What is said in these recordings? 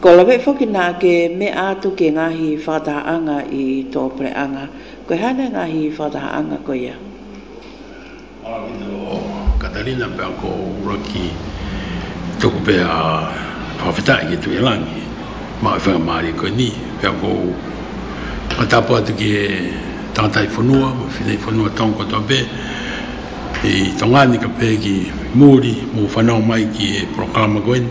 Kua lawe whaki nā ke me ātu ki ngā hī whātaha anga i tō pere anga, koe haina ngā hī whātaha anga koia. Katarina pea ko Uraki toku pea whawhetai ki Tuirangi ma i whenga marie koe ni pea ko ma tapu atu ki e tangata i whanua ma whina i whanua tong koto be i tonga ni ka pea ki muri mo whanau mai ki e proklama koe ni.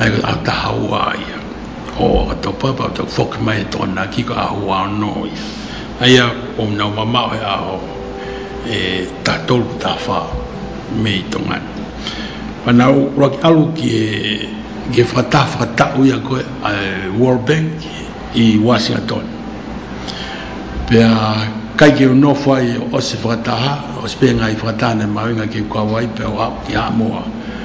Hei a Tahawā ia, Ho, a tau papa, tau whoki mai e tōna ki ka ahua anō ia. Hei a ōna mamao he aho e tātoru tāwhā me i tō ngani. Whanau roa ki alu ki e whata whakataū i a koe a World Bank i Wāsingitone. Pea kai ki o nō whai o se whakataha, o se pēnga i whakataha nei Māui ngā kei kua wai pea o hau ki Hāmoa.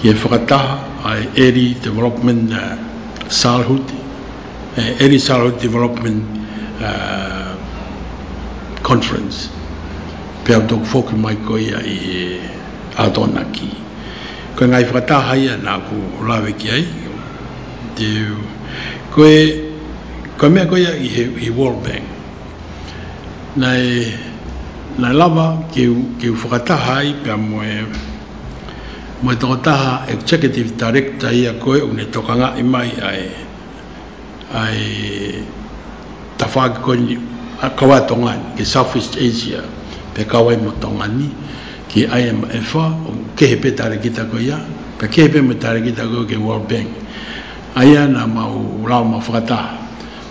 Ki te whakataha a Eri Development Sālhut, Eri Sālhut Development Conference, pea tōku whoki mai ko ia i he ātonaki. Koe ngā i whakatāhaia nāku lawe ki ai, koe, kua mea koe ia he World Bank. Nāi, nāi lava, kei u whakataha ai pea moe, Mai tō taha Executive Director ia koe une tokangāi mai ai ai ta whāki koe ni kawai tō ngāi ki Southeast Asia pe kawai mo tō ngāni ki IMF o kehe pe tāre ki ta koe ia pe kehe pe mo tāre ki ta koe ke World Bank ai ana mau rāuma whakataha.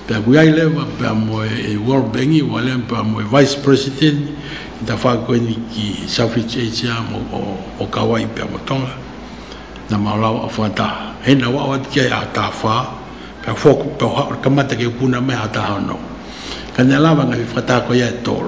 Pea koe ai lewa, pea moe e World Bank i Walean, pea moe Vice President i ta wha koe ni ki Selfridge Asia mo o Kauai pea mo Tonga. Na ma la wa fa ta, he na wa wa ti ai a ta wha, pea fo ko pea ha ka mata ke puna me ha ta ha no. Ka ne la wa nga i wha ta koe ai tol.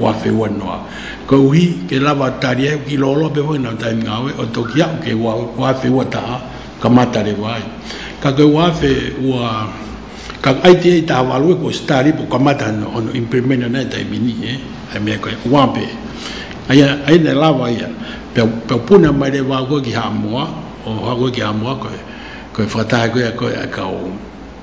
Wa fe wa noa. Ko uhi, ke la wa ta ria ki lo lo be wa na ta nga we o to ki a ke wa wa fe wa ta ka ma ta re wa. Ka ke wa fe wa ka ai te ta wa lu ko sta ri po ka ma ta no on in primena na ta mi ni e. Ai me ko wa pe. Ai ai na la wa ia. Pe pe pu na ma re wa ko ki ha mo o ha ko ki ha mo ko ko fa ta ko ko ka o.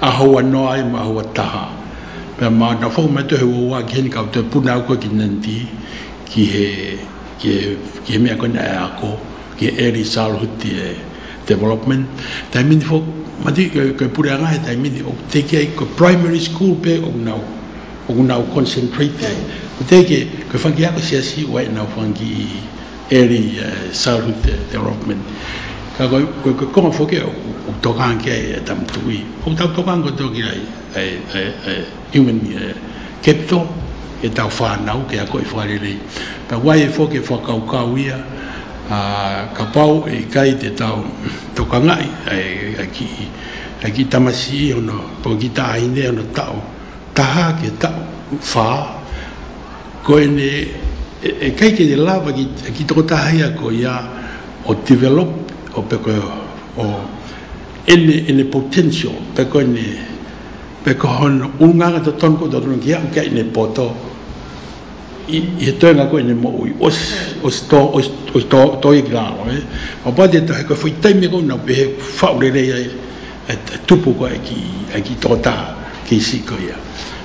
Ahaua noa ai ma aua taha, pea ma ana fou me tohe ua wa ki hene ka te puna au koe ki Nandi, ki he, ki he, ki he mea koina e ako, ki he Early Childhood Development, tae mini fo, mati, koe, koe pure anga he tae mini, oku te kei ko Primary School pe oku nau, oku nau concentrate ai, ko te ke, koe whangi ako si asi, wa e nau whangi i. Early Childhood Development. Koe ka konga whoki au, kou tokanga ki ai e tama tuhi. Kou tau tokanga koutou ki ai, e Human Capital, e tau whanau ki a koi whakarere. Ta wai e whoki e whakaukau ia, ka pau e kai te tau tokanga ai, ai ki, ai ki tamasi ono, po ki tahine ono tau, taha ki tau, wha. Koinei e kai tēnei lava ki tō tāhea ko ia o develop, o pea koe o ene potential, pea koe nei, pea koe hono unganga te tonu koe tonu ki au kia ene poto, i he toenga koe nei mo ui, osi tōia ki raro e, o pāti e taha koe whai taimi koe nau pehe whao rerei ai, e tupu koe ki tō tā, ki si koe ia.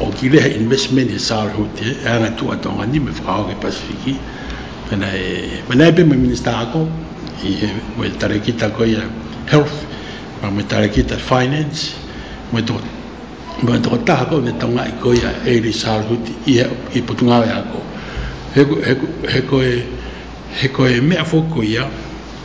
o Kirehe Investment e Saar Hote e ana tua Tongani me whakao ke Pasifiki pena e pena e pema minister ako i he mo e tare ki ta koia health ma me tare ki ta finance mo to mo to ta ako ne tonga i koia e ri Saar Hote i he i putunga e ako he ko he ko he ko e me a fo koia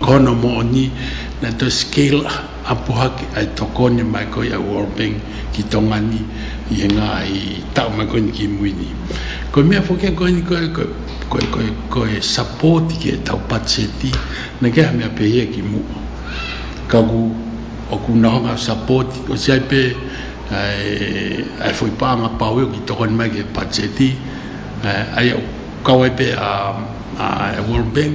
Kona moni na to skill apuhake ai to koni mai ko ia world bank ki to ngani i nga i tau mai koni ki mui ni ko mea foke koni koe koe koe koe koe support ki e tau patseti na ke mea pehia ki mua ka ku o ku na honga support ko si ai pe ai foi pa nga pa weo ki to koni mai ke patseti ai au kawai pe a world bank.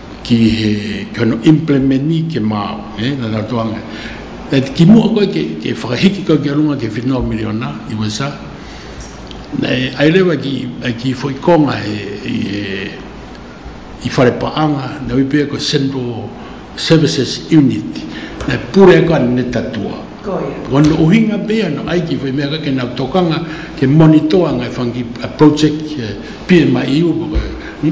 ki he kano implemeni ke māu, e, na tātou ange. E ki mua koe ke, ke whakahiki koe ki a runga ke whenua miliona i wesa, e, ai rewa ki, e ki whoi konga he, i he, i whare paanga, na wipea ko Central Services Unit, e pure koe ne tatua. Koia. Wano uhinga pia no ai ki whoi mea koe ke nau tokanga, ke monitoa ngai whangi, a project, PMI i upo koe.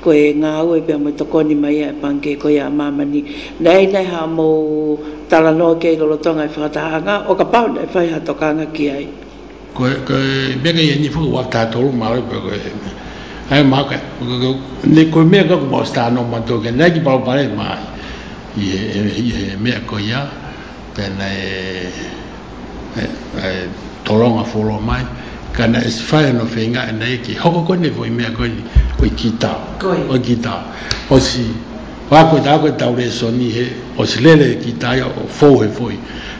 Ko e nga au e pea mo to koni mai a e Panke ko ia a Mamani, nei nei ha mo tara no kei Rorotonga e whakataha nga o ka pau nei whai ha to ka ngaki ai. Ko e mea kei ni whaka wa ta tolu ma re peko e me ai ma ka ne ko me ka mo sta no ma to ke nei ki pau pare ma i e mea ko ia. Tēnei e toronga whoro mai, kana is whai no whenga ina eke. Hoko koe nei ko i mea koe nei, ko i ki tau. Ko i ki tau. Osi, wha koe ta koe tau re soni he, osi lele e ki taia o fou he fo i,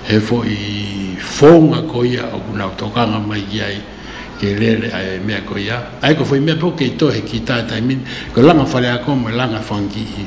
he fo i founga ko ia o kuna o tokanga mai ki ai, ke lele ai e mea ko ia. Ai ko fo i mea po kei to he ki tae tae min, ko langa whare a ko mo langa whangi i.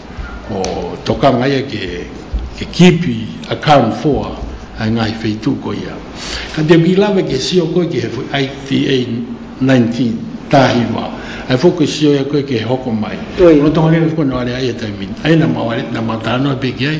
Ko Tokangaia ke kipi a Karen Foa hai ngahi wheitu ko ia. Ka te wi lawe ke sio koe ke he whi ai ti a 19 tahi wa. Hai fo ke sio ia koe ke he hoko mai. Ko Tongariro fo no are ai e taimi. Aina ma ware na mata no piki ai.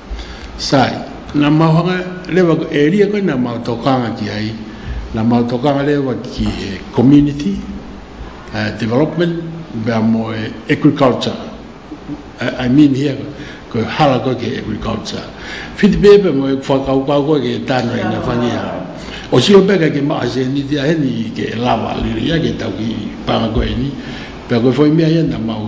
Sai, na mau hanga rewa e ria koe na mau to kanga ki ai, na mau to kanga rewa ki he community development bea mo e agriculture, I mean here ko hala koe ki agriculture. Whiti pea pea mo e whakau kau koe ki tano i nga whani a. O si o pea kei ke maa se ni te aheni ke lawa liri a ke tau ki panga koe ni, pea koe whoi mea ia na mau.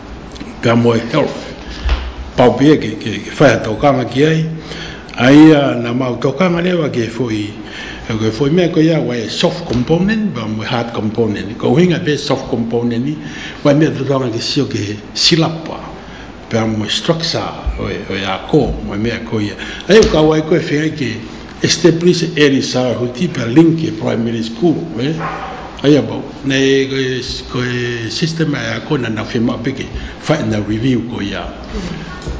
kia moe health, pao pea ke whaea tō kanga ki ai, a ia nā māu tō kanga rewa ke whoi, ke whoi mea koe ia wai soft component ba moe hard component, kua uhinga pea soft component ni, wai mea tō kanga ke sio ke silapa, pea moe structure o ia kō, moe mea koe ia, hei o ka wai koe whea ke. Establish Early Childhood Keep a link e primary school koe Ai a mau Nei koe system ai a koe na na whema peke Whai na review koe ia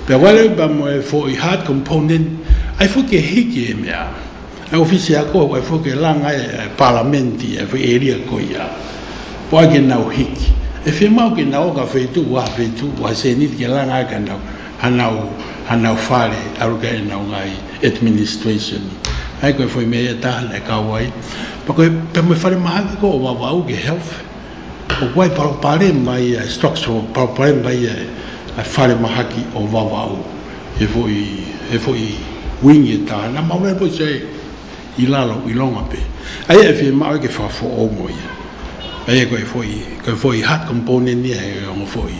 Pea wale ba moe fo i hard component Ai fo ke hiki e mea Ai ofisi a koe wai fo ke langa e palamenti e whi eria koe ia Po ai ke nau hiki E whema au ke nau o ka wheitu Waha wheitu waha senit ke langa ai ka nau hanau, hanau whare, Arukahena o Ngāi Administration, hai koe whai mea ia tāhana e kāwai, pa koe pea me whare maha ki kō wawau ki health, o wai paropare mai ia e structural, paropare mai ia e whare maha ki o wawau, he woi, he woi wing e tāna, ma wai woi sei i lalo, i longa pe, aia e whi māu ke wha who o mo ia, aia koe whoi, koe whoi heart component ia he ongo whoi.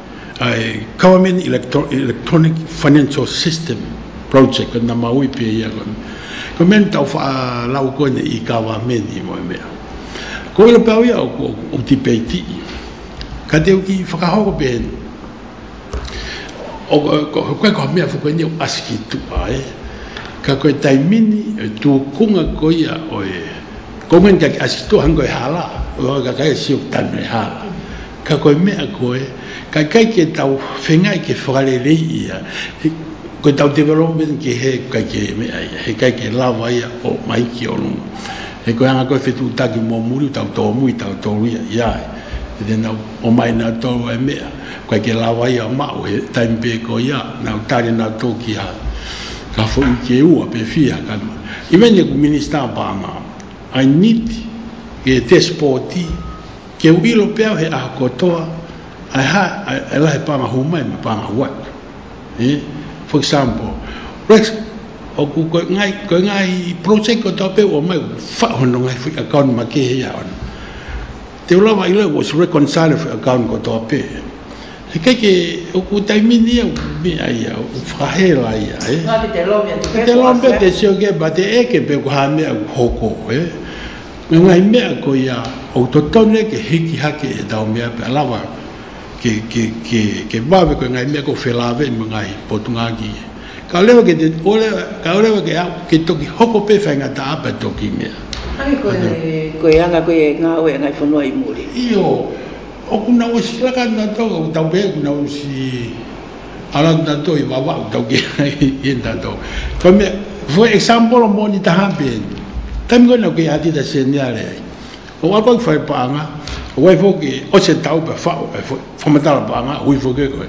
I Government Electronic Financial System Project, ko nā Māui pea ia koe. Koe mea ni tau wha lau koe nei i ka wā me ni koe mea. Ko ilo pau ia o ko o ti pei ti. Ka te uki whakahoko pea ni. O ko koe ko mea whakoi ni o asiki tu ai. Ka koe tai mini e tu kunga ko ia o e. Ko ngen ka ki asiki tu hangoi hala. Ka kai e siok tanu e hala. Ka koe mea koe, kai kai ke tau whengai ke whakarerei ia, koe tau development ke he kai ke mea ia, he kai ke lawa ia o mai ki o runga. E koe ana koe whetū taki mō muri tau tōmu i tau tōru ia, ia ai. E tēnā, o mai nā tōu e mea, kai ke lawa ia o māu, he taimi pē koe ia, nāu tare nā tōu ki a, ka whoi i ke ua, pē whia, ka noa. I mea nei ko Minister Palmer, I need ke test pōti, Kia uiro pea au he ahakoa toa, I had, I, e la he pānga hou mai me pānga hou atu. E? For example, Rex, o ku koe ngai, koe ngai project o tau peo o mai, wha hono ngai whi account ma ke hei aon. Te ulawa i lau was reconciled whi account ko toa pe. He kai ke o ku taimini au, me ai au, whakahela ia, e? Nga ki te lawyer, te peko, Te lawyer, te seo ke ba te eke pe ku hame au hoko, e? Ēngari mea ko ia ou totou nei ke hiki hake e Daumea pea rawa ke wawe koe ēngari mea ko Whelāwei ma ngā hī Potungāki ia. Ka ore wake te ore ka ore wake au ke toki hoko pewhai ngā tāpa e toki mea. Anei koe koe e anga koe e ngāoe a Ngāi Whanua i Mōrehu. Io, o kuna osi rakana tau, o Daumea kuna osi. Alang ta to i wawa ta ge in ta to. Ko me for example o moni ta ha pe. Ta mi no ke ati ta se ni ale. O wa ko fa pa nga. O wa fo ke o se tau pa fa o fo fo ma ta pa nga ui fo ke ko.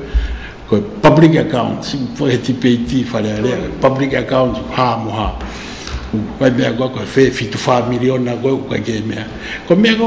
Ko public account si fo e ti pe ti fa le le public account ha mo ha. Ko me ko ko fe fi tu fa miliona ko ko ke me. Ko me ko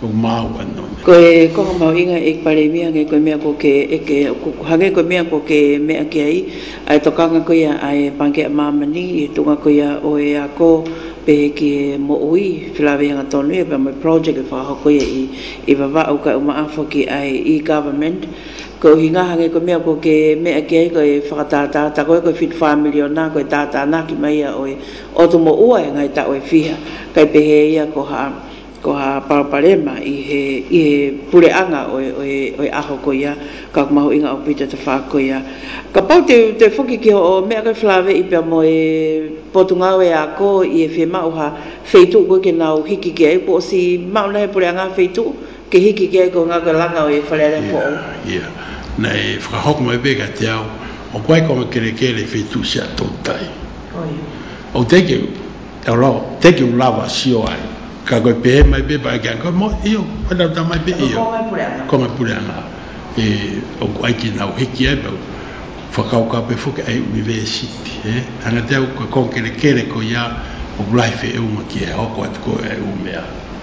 o Māu anō. Koe koha mau inga ik pare mia ge koe mea ko ke eke ok hage koe mea ko ke mea ki a i ae to kanga ko ia ae Pangea Māmani i tunga ko ia o e a ko pehe ki e mo ui Filaweanga tonu e pea mai project e whakaho ko ia i i vava'u kai uma afo ki ai i Government ko uhi nga hage koe mea ko ke mea ki ai koe whakatātā ta koe koe whit whāmiri o nā koe tātā nā ki mai ia oe o to mo ua e ngai ta oe whiha kai pehe ia ko ha Ko ha Papa Rema i he i he pure anga o e aho ko ia ka mahu i nga o Pita te wha ko ia ka pau te te whoki ki ho o me a kai flave i pea mo e Potungao e a ko i e whe ma o ha whei tu ko ke nau hiki ke ai ko o si ma ona he pure anga ha whei tu ke hiki ke ai ko nga ko langa o e wharearea ko o. Ia na e whakahoko mai be ka te ao o ko ai ko nga kere kere whei tu se a to tai o te ke. Aro, thank you lava sio ai. Ka koe pehe mai be ba kia koe mo io koe na ta mai be io. Ko ngai pure ana. Ko ngai pure ana. E o ko ai ki na o hiki ai ba whakao ka be foke ai ui ve siti. E anga te au ka kongkere kere ko ia o life e unga ki e hoko atu ko e umea.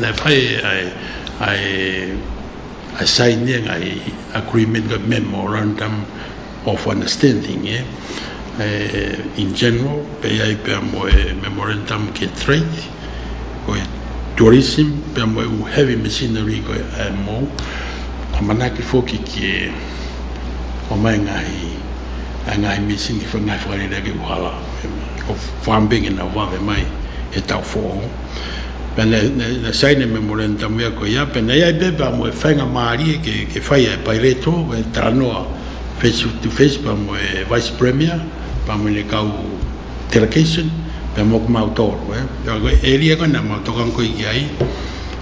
Nei whai I sainia nga agreement nga memorandum of understanding e in general pei ai pea mo e memorandum ke trade ko e tourism pea mo u heavy machinery ko e IMO ka manaaki foki ke homai nga i nga machine ki whai nga whakarerea ki uhala ko farm big ina wawe mai he tau whoo. Pēnei, nei, nei sai nei memorandum i a koe, ia, pēnei ai beba mo e whainga mārie ke, ke whai ai Pai Reto, e tara noa face to face pa mo e Vice Premier, pa mo nei kau delegation, pea moku mau tōro, e, pea koe, e ria koe nei mau tokan koe ki ai,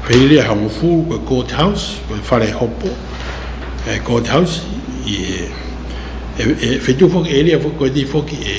whai ria hango fū, koe Court House, koe Whare Hopo, e Court House, i e, e, e whetū foki, e ria foki, koe di foki, e,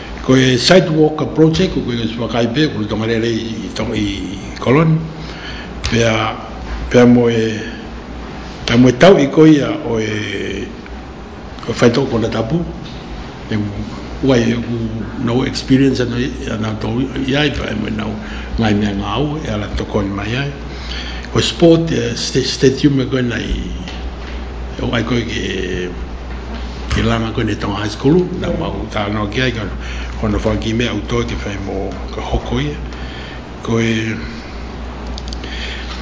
Ko e Site Walker Project, ko koe Sua Kaipē, ko Ruta Ngarere i Colony, pea, pea moe, pea moe tau i koia oe, oe whai toko kona tapu, e wai e ku no experience ano i, ano to i ai pa e moe nau ngai mea ngau e ala tokoni mai ai. Ko sport, e stadium e koe nei, E whai koe ke, ke langa koe nei tonga high school, nau ma u tā noa ki ai, ka hona whai ki mea u toi te whai mo ka hoko ia. Koe,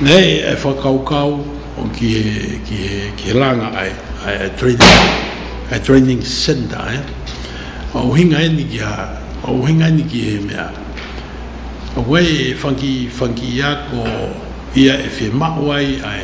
nei e whakau kau o ki he, ki he, ki he langa ai, ai, ai training, ai training center ai. Ma u hinga eni ki a, ma u hinga eni ki he mea. Koe e whanki, whanki ia ko ia e whi mawai ai,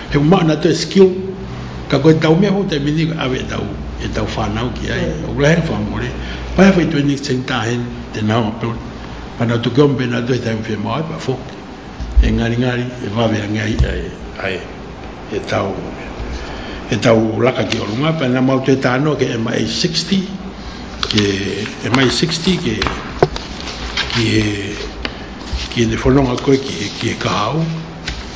He uma ana te skill, ka koe tau mea ho te mini ka awe tau, e tau whanau ki ai, o kula he whamore, pai a whai tue ni tseng tahen, te nao a pil, pana tu kiom pena tu he taim whi mo ai pa fok, e ngari ngari, e vave ange ai, ai, ai, e tau, e tau laka ki o runga, pana mau te tano ke ema e 60, ke ema e 60 ke, ki he, ki ne whanonga koe ki he, ki he kahau,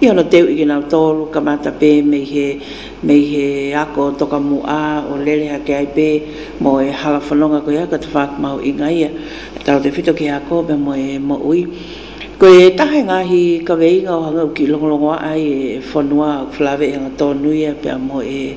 I ono teu i kina o toru ka mata pe me ihe me ihe ako toka mu a o leleha ke ai pe mo e hala fononga koe a ka te whak mau i nga ia e taro te whito ki a ko me mo e mo ui koe e taha i nga hi ka we i nga o hanga uki longolongo a ai e fonua a Flaveihanga tonu ia pea mo e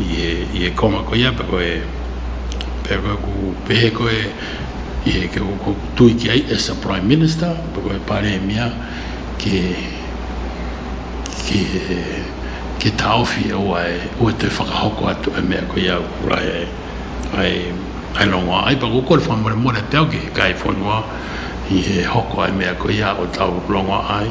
i e, i e konga ko ia, pe koe, pe koe ku, pe he koe, i e ke ko tui ki ai as a Prime Minister, pe koe paremia ke, ke, ke taofi e oa e, oa te whakahoko atu e mea ko ia kurai ai, ai, ai rongoa, ai pa kukore whamore more te au ki he kai whanua, i he hoko ai mea ko ia o tau rongoa ai,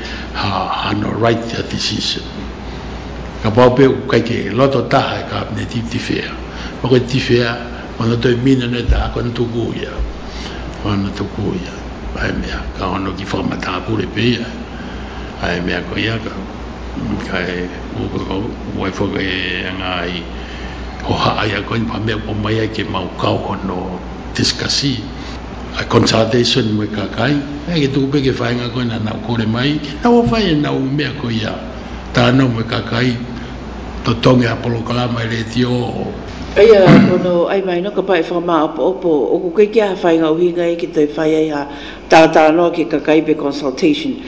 Ha, ha no right the decision. Ka pao pea ku kai ke loto taha e Kabineti tiwhea. Ma koe tiwhea, mana toi mina nei taha koe na tuku ia. Koe na tuku ia. Ae mea, ka hono ki whakamatapure pe ia. Ae mea ko ia ka, kai, wai whaka e anga ai, hoha ai a koe, wha mea ko mai ai ke mau kauhono, discussee, a consultation me ka kai ai ki tuku peke whainga koe na nau kore mai na ua whai e nau i mea ko ia tanau me ka kai to tongi a polokalama e reti o Eia ra kono ai mai no ka pae whakamaaopoopo o ko koe ki aha whainga o hinga e ki toi whai ai ha taata noa ki ka kai be consultation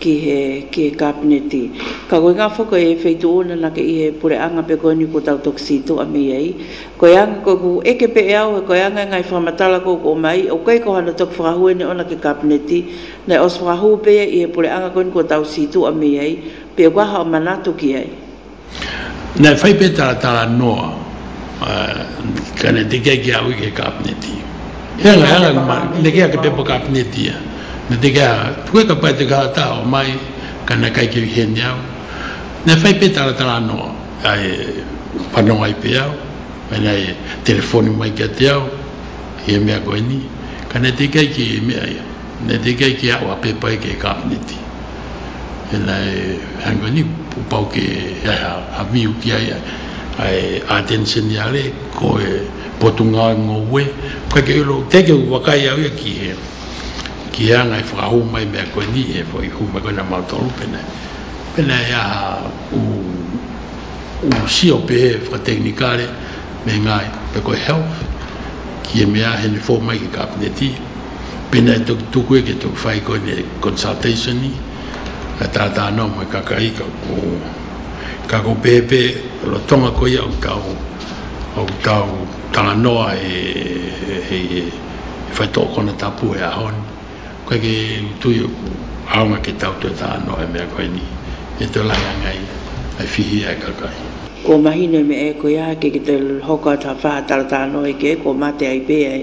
ki he ki he kāpeneti. Ka koe ngā whako e whei tō ōna nake i he pore anga pea koe nui ko tau tokisi tō ami ei. Koe anga koe ko eke pe e au he koe anga e ngai whamatala ko ko mai o koe ko hana toki whakahuene ōna ki kāpeneti nei os whakahū pea i he pore anga koe nui ko tau si tō ami ei pe o kaha o manatoki ei. Nei whai pētara tā Noa, ka neke kē ki a au i ke kāpeneti. He aha, he aha ngā mahi ka neke ake pepa kāpeneti ia? Nei te kē a au, koe ka pai te kaha taua mai, ka neke ai ki Wihene au. Nei whai pētara tā Noa, e whanau ai pea au, mēnā e telefoni mai ki a te au, i he mea koe nei, ka neke kē ki ia mea ia. Nei te kei ki awa ke pai ke Kapeneti ena e hainga ni pau ke eha a miu ki aia ae atention i are ko e potunga ai mo we ka ke ro te ke u waka ia we ki he ki he angai whakahu mai mea koe ni e whai hu me kona mau tolu pena pena ia u u sio pe he wha teknikare me ngai pe koe health ki e mea he ni fo mai ki Kapeneti. Pēnā e toki tō koe ki tō whai kone consultation i, ka tātā anō mai ka ka ika ko ka ko pēpē ro tonga koi au tau au tau tanga noa e he e whai tō kona tapu e ahon koe ke utui o ku aonga ke tau tō tā anō e mea koe ni e tō lai angai ai whihi ai ka kai. Ko mahine me e koe ake ki te hoka tā whā taratā anō i ke ko mate ai pē ai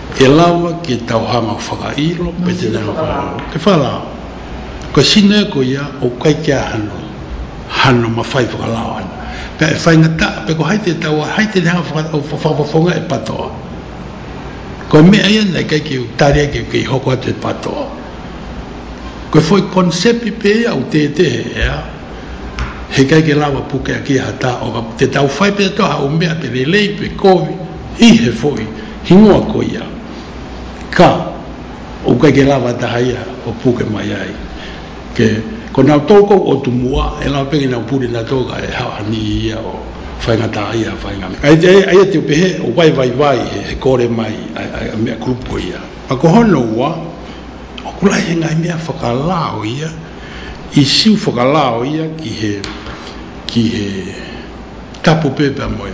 E lawa ki e tau hanga whakairo me te nena whakairo. Te whara, kua sino e koe ia o kai kia hano, hano ma whai whakalao ana. Pea e whai nga ta, pea ko hai te tau a, hai te hanga whakapaponga e patoa. Kua mea ia nei kai kei u tari ake kei hoko atu e patoa. Kua whoi concept pe ia o te te he ea, he kai ke lawa puke a ki ha ta o te tau whai pe toha o mea pe lelei pe koe, i he whoi. Ingoa ko ia, Ka, o kai ke lawa taha ia, o puke mai ai. Ke, ko nau toukou o Tumua, e lawa pea ki nau purina toga e ha ani i ia o whainga taha ia, whainga me. Ai te, ai te ope he, o wai wai wai, he, he kore mai, ai, ai, a mea group ko ia. Ma ko hono ua, o ku lahi he ngai mea whakalao ia, i siu whakalao ia ki he, ki he, tapu pepea moe.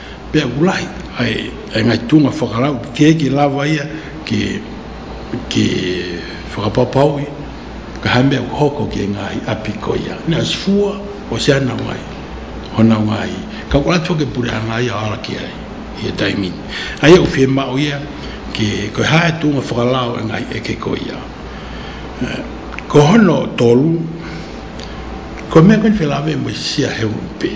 Pea aku rahi, ai ngai tūnga whakarau, kē ki lava ia ki whakapapau i, ka hae mea hoko ki Ngāhi Api ko ia. Nā, is fua, Oceana mai, hona Ngāhi, ka kore atu ake pure ana ia ara ki ai, i a Taimini. Ai au whē māu ia, ki koe hae tūnga whakarau e Ngāhi Eke ko ia. Ko Hono tolu, ko mea koe whē lawe mo i sia he upe.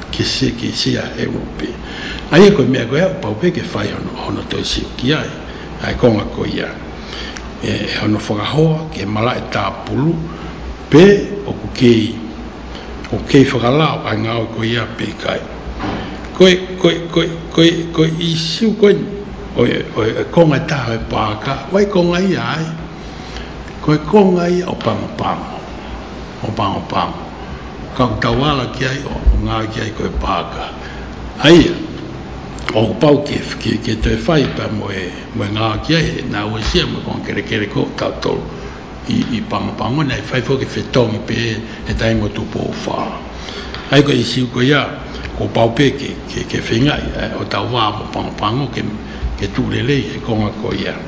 Ki si, ki si a he upe. Aia koe mea koe au paupe ke whai hono, hono toi sioki ai. Ae konga ko ia, E hono whakahoa, ke marae tapulu, pe oku kei, oku kei whakalao kai ngaoi ko ia pe kai. Koe, koe, koe, koe, koe Isu koe, oe, oe, oe konga e taha oe paka, wai konga ia ai? Koe ko nga ia o Pangopango, o Pangopango, ka tawala ki ai o nga ki ai koe Paaka. Aia, o pau ki e ki e toe whai pa mo e mo e nga ki ai e na we sia mo kong kere kere ko ta to i i Pangopango nei whai fo ki fe tong i pe e tai mo tu po fa. Ai ko i siu ko ia ko pau pe ki ki ke whengai o ta wa mo Pangopango ke ke tu le le i he konga ko ia.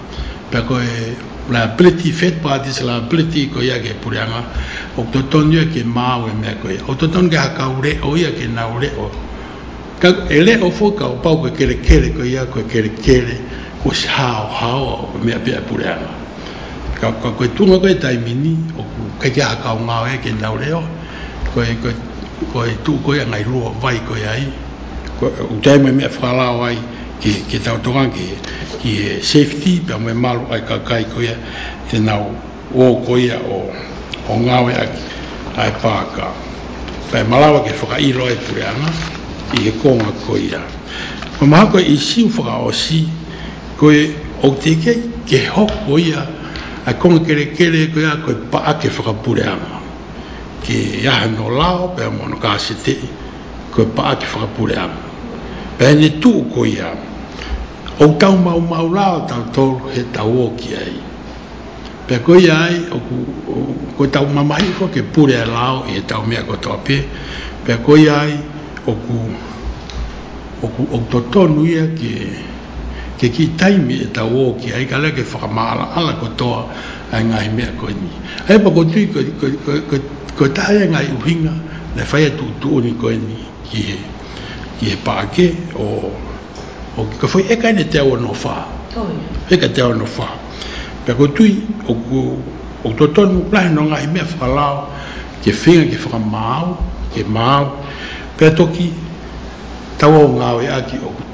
Pea koe liability, third parties liability, ko ia ke pureanga, o to tonu ia ke māu e mea koe, o to tonu ke aha kau reo ia ke nau reo. Kau e reo fo kau pau koe kere kere ko ia koe kere kere ko si hao hao au ko mea pea pureanga. Ka, ka koe tunga koe taimini, o kai ke aha kau ngāo ia ke nau reo, koe, koe, koe tū koe ngai rua vai koe ai, koe, utai mai mea whakarao ai, Ki te arotonga ake ki he safety pea me malo ai ka kai koia tena o koia o ngawe ake ae paaka pae malawa ke whakairo ai pure ana i he konga koia me maha koe i siu whakaosi koe o te ike ke hok koia ae konga kere kere koia koe pa ake whakapure ana ke ahe no lao pea moana ka setei. Kua paa ki whakapurea ana. Pehene tu ko ia ou tau mau mau la o tau toru he tau oki ai. Pea ko ia ai oku ko tau mamahi foki e purea lao i he tau mea ko toa pie, pea ko ia ai oku oku ou to tonu ia ke ke ki taimi e tau oki ai ka leke whakamaala ala ko toa Hai ngahi mea koe ni. Hai pa koe tui koe, koe, koe, koe, koe taha ia ngahi uhinga, me whai atu utu oni koe ni ki he, ki he pa ke, o, o ki ka whai e kai ne te awa no wha. Oh ia. E kai te awa no wha. Pea koe tui, o ku, o to tonu, lahe no ngahi mea whakalao, ke whenga ke whakamau, ke mau, pea toki, tau au ngawe a ki o ku.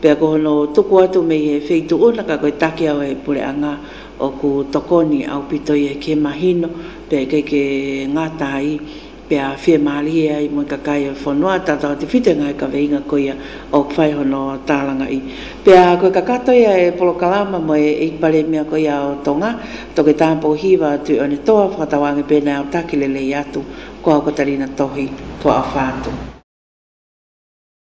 Pea ko hono toko atu me he wheito ona ka koe take au e pore anga o ku tokoni au pito i e ke mahino pea kei ke ngatai pea fie marie ai mo i ka kai o fonoa tata o te white ngai ka veinga koia o whai hono taranga i pea koe ka katoia e polokalama mo e i pare mea koia o tonga toke tampo hiva atu e one toa whakatawange pena au takilelei atu ko au katarina tohi ko au whatu.